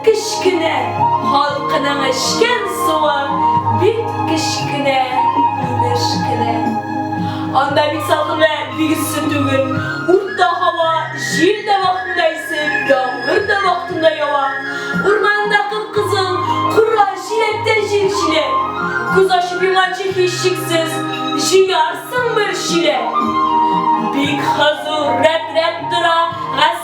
Кечкенә халкының эчкән суы бик кечкенә, инеш кенә. Анда бит салкын вә бик эссе түгел. Урта һава, җил дә вакытында исеп, яңгыр да вакытында ява. Урманында кып-кызыл, кура, җиләктә җил җиле. Күз ачып йомганчы һичшиксез җыярсың бер чиләк. Бик хозур, рәтләп тора гаскәр.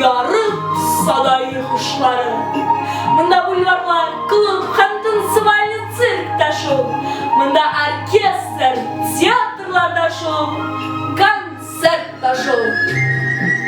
Ярым садай хушлары. Монда бульварлар, клуб һәм танцевальный цирк та шул. Монда оркестр, театрлар да шул, концерт та шул.